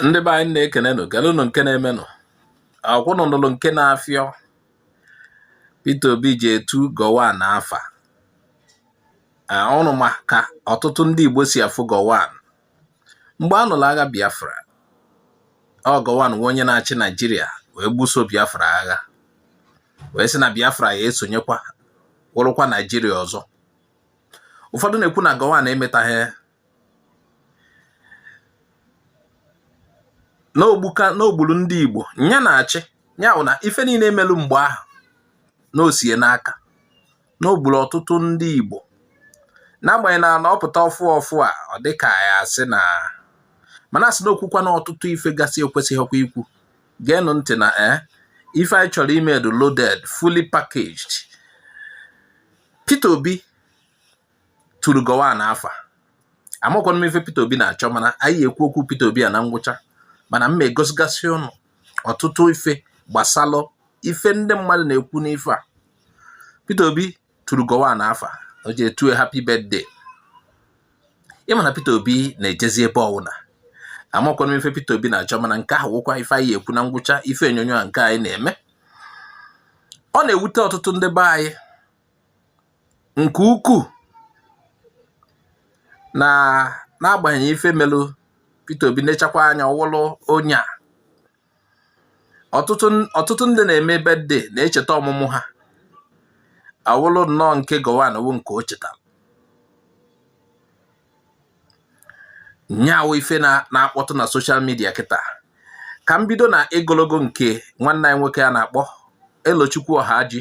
ndị be anyị na-ekenenụ geelụnụ nke na-emenụ ọ kwa ụnụ nụlụ nke na-afịọ Peter Obi ji etu Gowon afa ụnụ ma ka ọtụtụ ndị Igbo si afụ Gowon mgbe a nụrụ agha Biafra ọ Gowon nwe onye na-achị Naijiria wee gbuso Biafra agha wee sị na Biafra ya-esonyekwa wụrụkwa Naijiria ọzọ ụfọdụ na-ekwu na Gowon emetaghị na o gbu na o gburu ndị Igbo nya na-achị ya bụ na ife niile e melu mgbe ahụ na o si ya n'aka na o gburu ọtụtụ ndị Igbo n'agbanyeghị na na ọ pụta ọfụ ọfụ a ọ dịka a ya-asị na mana a sị na o kwukwana ọtụtụ ife gasị e kwesịghịkwa ikwu geenụ ntị na e ife anyị chọrọ ime dị loaded fully packaged Peter Obi turu Gowon afa amakwana m ife Peter Obi na-achọ mana anyị ya-ekwu okwu Peter Obi a na ngwụcha mana m egosigasị ụnụ ọtụtụ ife gbasalụ ife ndị mmadụ na-ekwu n'ife a Peter Obi turu Gowon afa o ji etu ya happy birthday ị ma na Peter Obi na-ejezi ebe ọ wụna amakwana m ife Peter Obi na-achọ mana nke ahụ wụkwa ife anyị ya-ekwu na ngwụcha ife onyonyo a nke anyị na-eme ọ na-ewute ọtụtụ ndị be anyị nke ukwuu na n'agbanyeghị ife melụ Peter Obi nechakwa anya ọ wụlụ onye a ọtụtụ ndị na-eme birthday na-echeta ọmụmụ ha ọ wụlụ nnọọ nke Gowon wụ nke o chetara nya wụ ife na-akpọtụ na social media kịta ka m bido na egologo nke nwanne anyị nwoke a na-akpọ Elochukwu Ohagi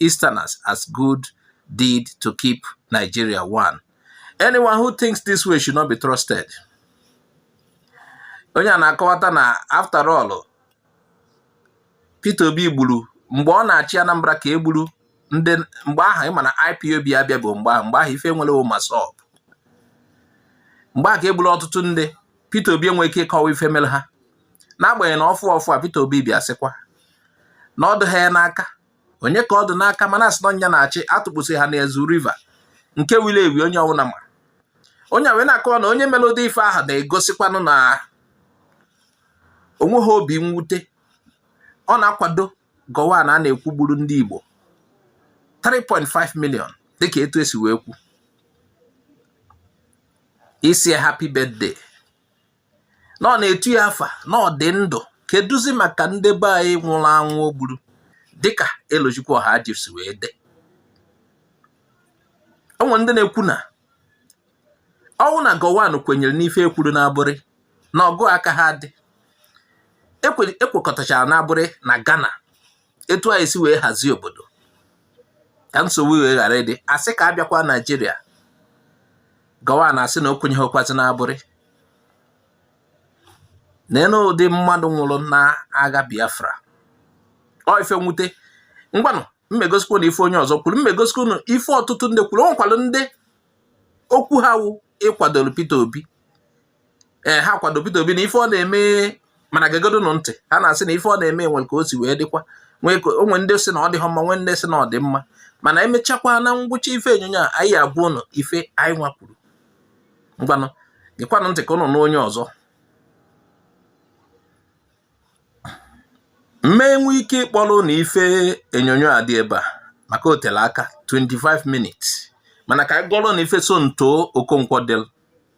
Easterners as good deed to keep Nigeria one. Anyone who thinks this way should not be trusted. Onye a na-akọwata na after all Peter Obi gburu mgbe ọ na-achị Anambra ka e gburu ndị mgbe ahụ ị ma na IPOB abịa bụ mgbe ahụ mgbe ahụ ife e nwere wụ MASSOB mgbe ahụ ka e gburu ọtụtụ ndị Peter Obi enwe ike ịkọwa ife mere ha n'agbanyeghị na ọfụ ọfụ a Peter Obi bịa sịkwa na ọ dịghị ya n'aka onye ka ọ dị n'aka mana a sị na ọ nya na-achị a tụkpụsị ha n'Ezu River nke wulu ewu onye ọ wụla ma onye a wee na-akọwa na onye melụ ụdị ife ahụ na-egosikwanụ na o nweghị obi mwute ọ na-akwado Gowon a a na-ekwu gburu ndị Igbo 3.5 million dịka etu e si wee kwu ịsị ya happy birthday na ọ na-etu ya afa na ọ dị ndụ kedụzi maka ndị be anyị nwụrụ anwụ o gburu dịka Elochukwu Ọhaji si wee dee o nwere ndị na-ekwu na ọ wụ na Gowon kwenyere n'ife e kwuru n'Aburi na ọgụ akaha adị e kwekọtachara n'Aburi na Ghana etu anyị si wee hazie obodo ka nsogbu wee ghara ịdị a sị ka a bịakwa Naịjirịa Gowon asị na o kwenyeghịkwazi na Aburi n'elu ụdị mmadụ nwụrụ na agha Biafra ọ ife mwute ngwanụ m egosikwu ụnụ ife onye ọzọ kwuru m egosikwu ụnụ ife ọtụtụ ndị kwuru o nwekwalụ ndị okwu ha wụ ịkwadoro Peter Obi ee ha kwado Peter Obi na ife ọ na-eme mana gegodunụ ntị ha na-asị na ife ọ na-eme nwe ka o si wee dịkwa nwee ka o nwe ndị sị na ọ dịghọ mma nwee ndị sị na ọ dị mma mana emechakwa na ngwụcha ife onyonyo a anyị agwa ụnụ ife anyị nwa kwuru ngwanụ gekwanụ ntị ka ụnụ nụ onye ọzọ m ma-enwe ike ịkpọrọ ụnụ ife onyonyo a dị ebe a maka o tele aka 25 minutes mana ka anyị gụọrọ ụnụ ife Somtoo Okonkwo del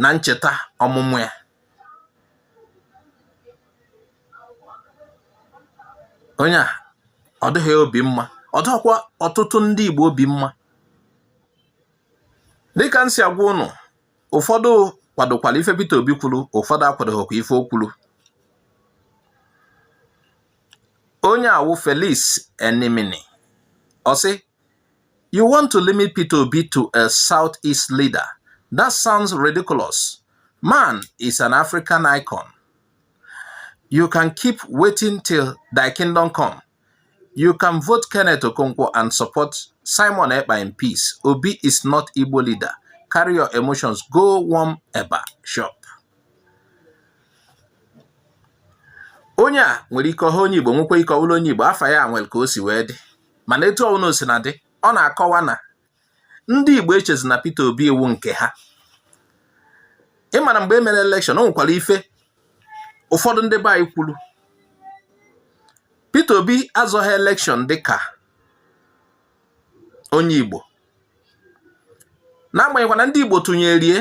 na ncheta ọmụmụ ya onye a ọ dịghị ya obi mma ọ dịghịkwa ọtụtụ ndị Igbo obi mma dịka m si agwa ụnụ ụfọdụ kwadokwara ife Peter Obi kwuru ụfọdụ akwadoghịkwa ife o kwuru onye a wụ Felix Enemini ọ sị You want to limit Peter Obi to a Southeast leader? That sounds ridiculous. Man is an African icon. You can keep waiting till thy kingdom come. You can vote Kenneth Okonkwo and support Simon Ekpa in peace. Obi is not Igbo leader. Carry your emotions. Go warm eba chop. Onye a nwere ike ọ wụha onye Igbo nwekwa ike ọ bụlụ onye Igbo afa ya nwere ka o si wee dị mana etu ọbụla o sina dị ọ na-akọwa na ndị Igbo echezi na Peter Obi wụ nke ha ị mara mgbe e mere elekshọn o nwekwara ife ụfọdụ ndị be anyị kwuru Peter Obi azọghị elekshọn dịka onye Igbo n'agbanyeghịkwa na ndị Igbo tụnyere ya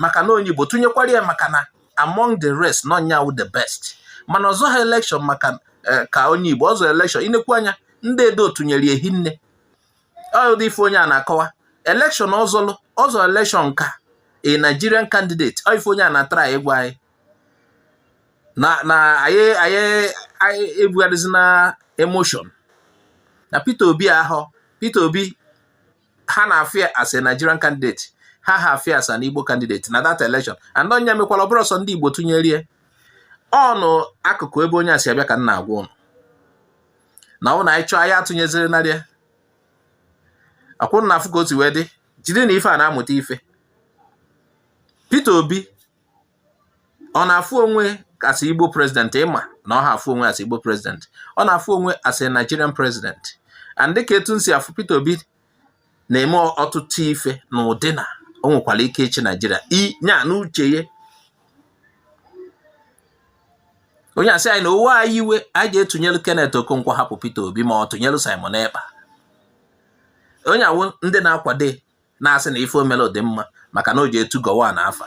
maka na onye Igbo tụnyekwara ya maka na among the rest na ọ nya wụ the best mana ọ zọha elekshọn maka eh, ka onye Igbo ọ zọ elekshọn i nekwu anya ndị Edo tụnyere ya hinne ọ ụdị ife onye a na-akọwa elekshọn ọ zọlụ ọ zọ elekshọn ka a Nigerian candidate ọ ife onye a na-atry ịgwa anyị na na anyị anyị anyị ebugharịzina emotion na Peter Obi ahụ Peter Obi ha na-afụ ya as a Nigerian candidate ha ha afụ ya as an Igbo candidate na that election and ọ nya mekwala ọ bụrụ sọ ndị Igbo tụnyere ya ọnụ akụkụ ebe onye a si abịa ka m na-agwa ụnụ na ọ wụrụ anyị chọọ anyị atụnyezinarị ya akwụrụ na afụ ka o si wee dị jide na ife a na-amụta ife Peter Obi ọ na-afụ onwe as Igbo president ị ma na ọ ha afụ onwe as Igbo president ọ na-afụ onwe as Nigerian president and dịka etu m si afụ Peter Obi na-eme ọtụtụ ife n'ụdị na o nwekwara ike ịchị Nigeria nya n'uche ya onye a sị anyị na o wee anyị iwe anyị je tụnyelu Kenneth Okonkwo hapụ Peter Obi ma ọ tụnyelu Simon Ekpa onye a wụ ndị na-akwado na-asị na ife o melu dị mma maka na o je tu Gowon afa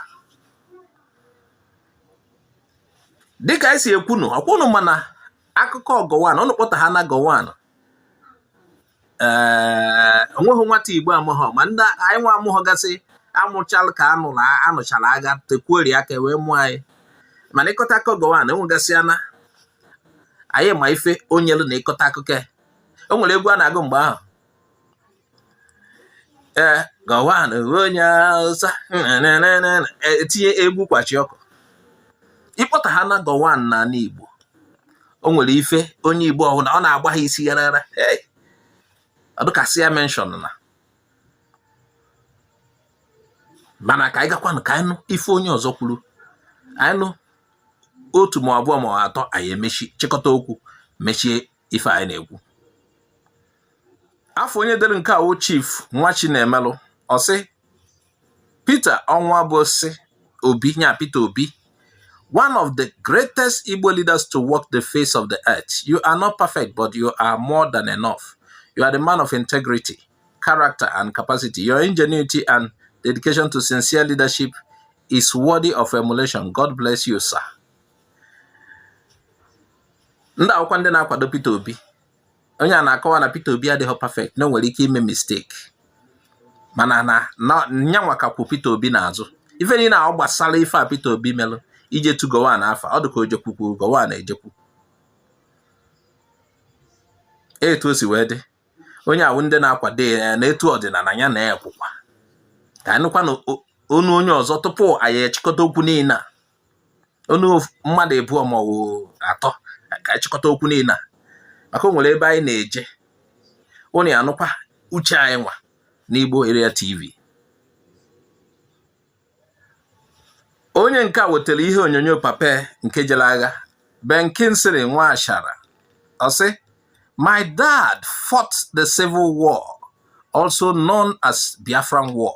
dịka anyị si ekwunu okwu nụ mana akụkọ Gowon ụnụ kpọtaha na Gowon ee o nweghị nwata igbo amụghọ ma ndị anyị nwa amụghọ gasị amụchala ka a nụla a nụchala agha tekwuori aka wee mụọ anyị mana ị kọta akụkọ Gowon e nwegasị ya na anyị ma ife o nyelu na ị kọta akụkọ ya o nwere egwu a na-agụ mgbe ahụ ee Gowon onwe onye awụsa etinye egwu kwachi ọkụ ị kpọtaha na Gowon n'ala igbo o nwere ife onye igbo ọ wụna ọ na-agba ha isi yarara ọ dịka sị ya mention na mana ka anyị gakwanụ ka anyị nụ ife onye ọzọ kwuru anyị nụ otu ma abụọ ma atọ anyị emechie chịkọta okwu mechie ife anyị na-ekwu afụ onye dere nke a wụ Chief Nwachinemelụ ọ sị Peter Onwubuasi Obi nya Peter Obi one of the greatest Igbo leaders to walk the face of the earth you are not perfect but you are more than enough you are the man of integrity character and capacity your ingenuity and dedication to sincere leadership is worthy of emulation. God bless you, sir. ndị a wụkwa ndị na-akwado Peter Obi onye a na-akọwa na Peter Obi adịghị perfect na o nwere ike ime mistake mana na nyanwa ka kwụ Peter Obi n'azụ ife niile ahụ gbasara ife a Peter Obi melụ ije tu Gowon afa ọ dị ka o jekwuru Gowon ejekwu etu o si wee dị onye a wụ ndị na-akwado ya na etu ọ dị na anyị na-ekwukwa ka a nụkwanụ onu onye ọzọ tupu anyị echịkọta okwu niile a onu mmadụ ịbụọ ma ọ bụ atọ ka anyị chịkọta okwu niile a maka o nwere ebe anyị na-eje unu ya-anụkwa uche anyị nwa n'Igbo Area TV onye nke a wetara ihe onyonyo papa ya nke jere agha Ben Kingsley Nwashara ọ sị my dad fought the civil war also known as Biafran war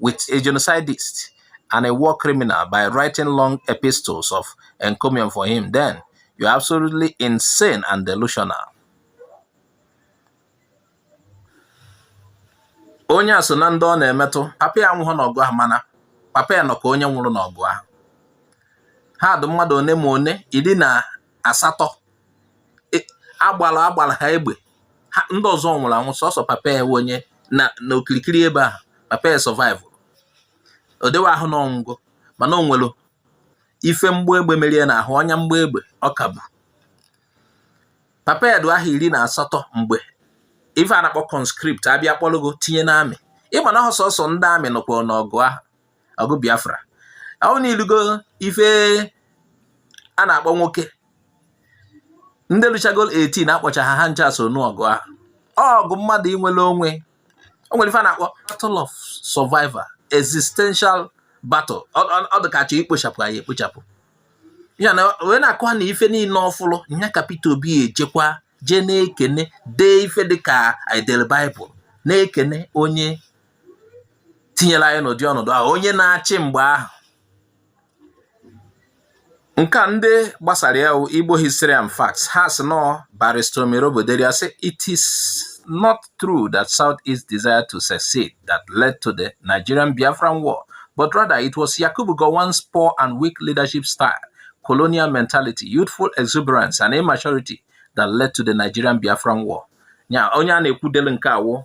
with a genocidist and a war criminal by writing long epistles of encomium for him, then you're absolutely insane and delusional. onye a so na ndị ọ na-emetụ papa ya anwụhụ n'ọgụ ahụ mana papa ya nọ ka onye nwụrụ n'ọgụ ahụ ha dị mmadụ one ma one iri na asatọ e, agbara agbara ha egbe ha ndị ọzọ nwụrụ anwụ sọsọ papa ya wụ onye n'okirikiri ebe ahụ papa ya survive o dewe ahụ na ọ nwụgo mana o nwere ife mgbọ egbe mere ya n'ahụ ọnya mgbọ egbe ọ ka bu papa ya dị ahọ iri na asatọ mgbe ife a na-akpọ conscript a bịa kpọrọ gị tinye n'amị ị ma na ọhọ sọsọ ndị amị nọkwa n'ọgụ ahụ ọgụ Biafra ahụ na i lugo ife a na-akpọ nwoke ndị luchagolu 18 a kpọcha ha ha ncha so n'ọgụ ahụ ọgụ mmadụ inwere onwe o nwere ife a na-akpọ battle of survival existential battle ọ dịka a chọ ikpochapụ anyị ekpochapụ ya na wee na-akọwa na ife niile ọ fụlụ nya ka Peter Obi ejekwa jee na-ekene dee ife dịka i delu Bible na-ekene onye tinyere anyị n'ụdị ọnọdụ ahụ onye na-achị mgbe ahụ nke a ndị gbasara ya Igbo History and Facts ha sị na ọ Barrister Omirobo dere sị it is not true that South East desire to secede that led to the Nigerian Biafran War but rather it was Yakubu Gowon's poor and weak leadership style colonial mentality, youthful exuberance, and immaturity that led to the Nigerian Biafran War. Nya onye a na-ekwu delu nke a wụ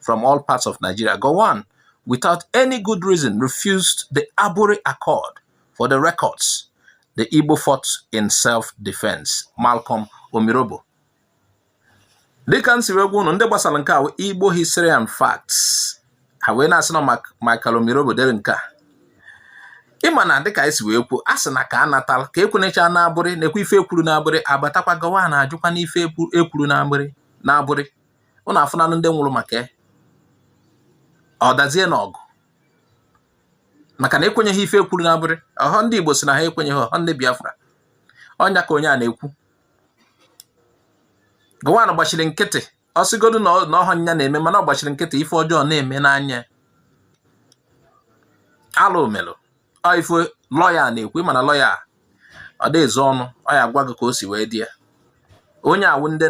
from all parts of Nigeria, Gowon, without any good reason, refused the Aburi Accord for the records. The Igbo fought in self-defense. Malcolm Omirobo. dịka m si wee gwa unu ndị gbasara nke a Igbo History and Facts ha wee na-asị na Michael Omirobo dere nke a ị ma na dịka e si wee kwuo a sị na ka a natala ka e kwenyecha n'Aburi na-ekwe ife e kwuru n'Aburi a gbatakwa Gowon ajụkwa n'ife e kwuru n'Aburi unu afụnanụ ndị nwụrụ maka ya ọ dazie n'ọgụ maka na ekwenyeghị ife e kwuru n'Aburi ọhọ ndị Igbo sị na ha ekwenyeghị ọhọ ndị Biafra ọ nya ka onye a na-ekwu Gowon gbachiri nkịtị ọ sịgodu na ọhọ nya na-eme mana ọ gbachiri nkịtị ife ọjọọ na-eme n'anya alụ o melụ ife lọya na-ekwu mana lọya ọ dị ezo ọnụ ọ ya agwa gị ka o si wee dị ya onye a wụ ndị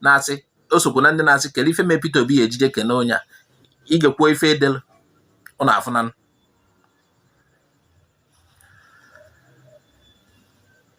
na-asị o sokwu na ndị na-asị kele ife mee Peter Obi ya eji je kene onye a ị gekwuo ife e delu ọ na-afụ na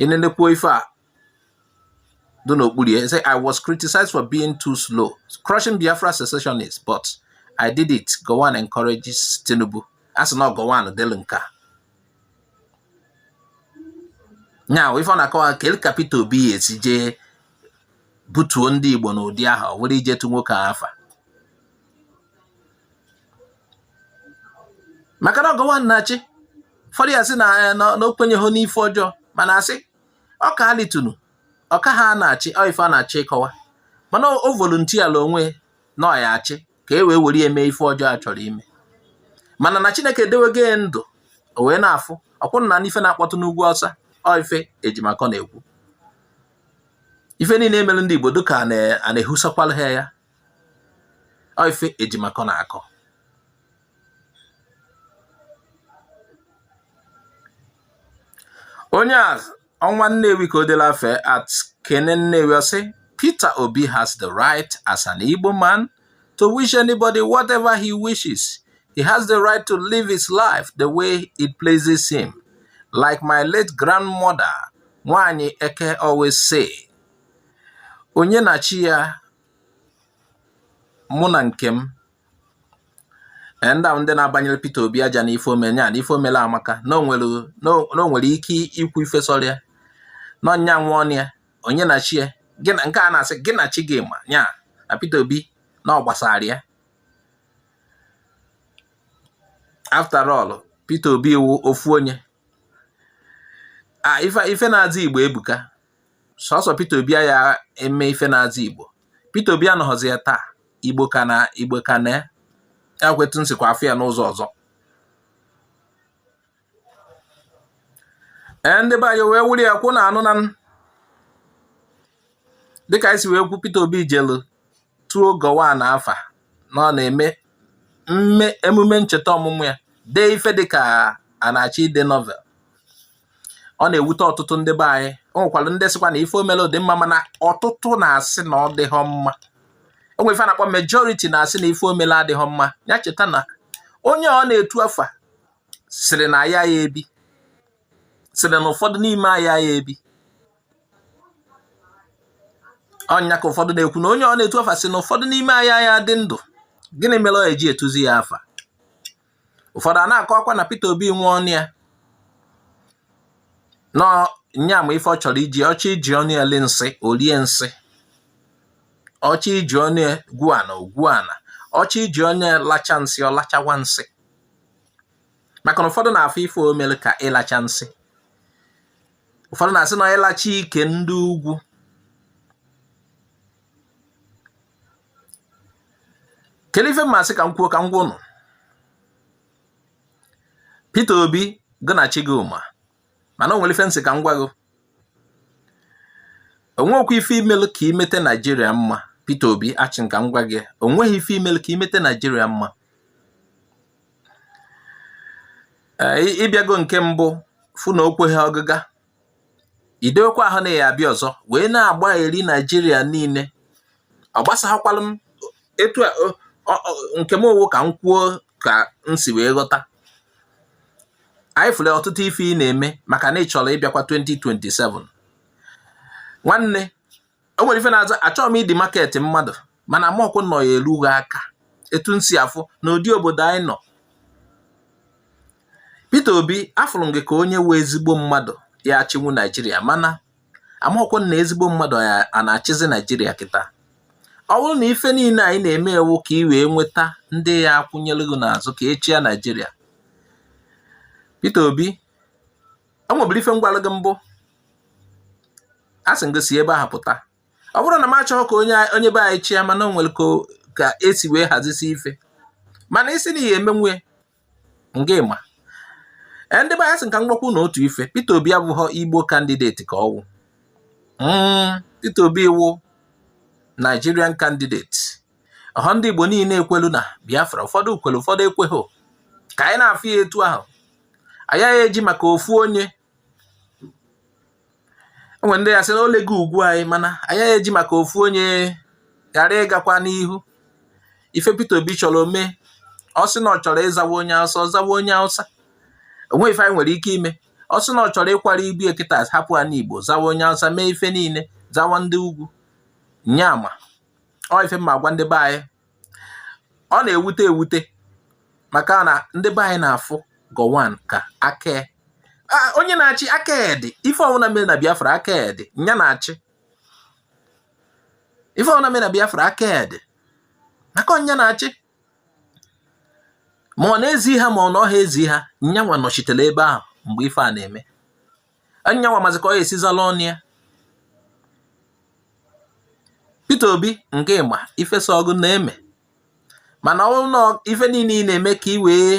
ị nenekwuo ife a dị n'okpuru ya say I was criticized for being too slow crushing Biafra secessionists but I did it Gowon encourages Tinubu a sị na Gowon delu nke a nya wụ ife ọ na-akọwa kele ka Peter Obi ya esi jee butuo ndị Igbo n'ụdị ahụ ọ were je etu nwoke afa maka na ọ Gowon na-achị ụfọdụ ya asị na eh, na o kwenyeghọ n'ife ọjọọ mana a sị ọka ha litunu ọka ha na-achị ife a na-achọ ịkọwa mana o voluntiala onwe na ọ ya achị ka e wee were eme ife ọjọọ a chọrọ ime mana na chineke edewego ya ndụ o wee na-afụ ọkwụ na n'ife na-akpọtụ n'ugwu Awụsa ife Ejimakor na-ekwu ife niile e mere ndị igbo dịka a na-ehusakwala ha ya ife Ejimakor na-akọ onye a ọ nwa Nnewi ka o delu afa ya at Kene Nnewi ọ sị Peter Obi has the right as an Igbo man to wish anybody whatever he wishes. He has the right to live his life the way it pleases him. Like my late grandmother, Nwanyị Eke always say, onye na chi ya mụ na nke m eh, ndị ahụ ndị na-abanyere Peter Obi aja na ife o mere ya na ife o mere amaka na o nwere ike ikwu ife sọrọ ya na ọ nya nwe ọnụ ya onye na chi ya nke a na-asị gị na chi gị ma ya na Peter Obi na ọ gbasara ya after all Peter Obi wụ ofu onye a ah, ife na-aza Igbo ebuka sọsọ Peter Obi aya eme ife na-aza Igbo Peter Obi anọghọzi ya taa Igbo ka na Igbo ka na ya akwụ etu m sikwa afụ ya n'ụzọ ọzọ ee ndị be anyị wee wuli ya kwụ na anụ na dịka anyị si wee kwu Peter Obi jelu tuo Gowon afa na ọ na-eme emume ncheta ọmụmụ ya dee ife dịka a na-achọ ide novel ọ na-ewute ọtụtụ ndị be anyị o nwekwara ndị sịkwa na ife o mere dị mma mana ọtụtụ na-asị na ọ dịghọ mma o nwe ife a na-akpọ majority na-asị na ife o mere adịghọ mma ya cheta na onye ọ na-etu afa sịrị na anyị aya ebi sịrị na ụfọdụ n'ime anyị aya ebi ọ nya ka ụfọdụ na-ekwu na onye ọ na-etu afa sị na ụfọdụ n'ime anyị aya adị ndụ gịnị mere ọ eji etuzi ya afa ụfọdụ ana-akọkwa na Peter Obi nwe ọnụ ya na nya ma ife ọ chọrọ iji ọ chọọ iji ọnụ ya lie nsị o lie nsị ọ chọọ iji ọnụ ya gwuo ana o gwuo ana ọ chọọ iji ọnụ ya lacha nsị ọ lachawa nsị maka na ụfọdụ na-afụ ife o mere ka ịlacha nsị ụfọdụ na-asị na ọ ịlacha ike ndị ugwu kedu ife m na-asị ka m kwuo ka m gwa ụnụ Peter Obi gị na chi gị ma mana o nwere ife m sị ka m gwa gị o nwekwa ife i melu ka i mete Naijiria mma Peter Obi asị m ka m gwa gị o nweghị ife i melu ka i mete Naijiria mma ị bịago nke mbụ fụ na o kweghị ọgịga i dewekwa ahụ na ị ya-abịa ọzọ wee na-agbaghari Naijiria niile ọ gbasaghakwarụ m etu nke m ọ wụ ka m kwuo ka m si wee ghọta anyị fụrụ ọtụtụ ife ị na-eme maka na ị chọrọ ịbịakwa 2027 nwanne o nwere ife na-aza achọghị m ị demarket mmadụ mana amọkwụ m na ọ ya-eru gị aka etu m si afụ n'ụdị obodo anyị nọ Peter Obi afụrụ m gị ka onye wụ ezigbo mmadụ ya-achịnwu Naijiria mana amọkwụ m na ezigbo mmadụ a na-achịzi Naijiria kịta ọ bụrụ na ife niile a ị na-eme wụ ka ị wee nweta ndị ya-akwụnyere gị n'azụ ka ị chịa Naijiria Peter Obi o nweburu ife m gwalụ gị mbụ asị m gị si ebe ahụ pụta ọ bụrọ na m achọghị ka onye be anyị chịa mana o nwere ka e si wee hazisie ife mana ị sị na ị ya-emenwu ngị ma e, ndị be anyị asị m ka m gwakwu ụnụ otu ife Peter Obi abụghọ Igbo candidate ka ọ wụ hmm, Peter Obi wụ Nigerian candidate ọhọ ndị Igbo niile kwelu na Biafra ụfọdụ kwelu ụfọdụ ekweghị ka anyị na-afụ ya etu ahụ anyị agaghị eji maka ofu onye e nwe ndị ya-asị na o lego ugwu anyị mana anyị agaghị eji maka ofu onye ghara ịgakwa n'ihu ife Peter Obi chọrọ ya mee ọ sị na ọ chọrọ ịzawa onye Hausa ọ zawa onye Hausa o nwe ife anyị nwere ike ime ọ sị na ọ chọrọ ịkwara ibu ya kịta hapụ ana Igbo zawa onye Hausa mee ife niile zawa ndị ugwu nya ma ọ ife m na-agwa ndị be anyị ọ na-ewute ewute maka na ndị be anyị na-afụ Gowon ka aka onye na-achị aka ya dị ife ọwụna mere na Biafra aka ya dị nya na-achị ife ọwụna mere na Biafra aka ya dị maka na nya na-achị ma ọ na-ezi ha ma ọ nahọ ezi ha nyanwa nọchitere ebe ahụ mgbe ife a na-eme nya nwa mazi ka ọ esi zala ọnụ ya Peter Obi nke ịma ife sọ gị na-eme mana ọ na ife niile ị na-eme ka ị wee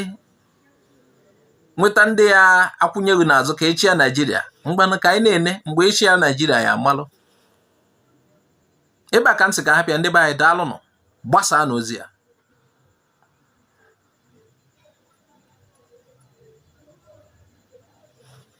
nweta ndị ya akwụnye gị n'azụ ka e chịa Naijiria ngwanụ ka anyị na-ene mgbe e chịa Naijiria ya amalụ ebe a ka m sị ka a hapụ ya ndị be anyị daalụnụ gbasaanụ ozi a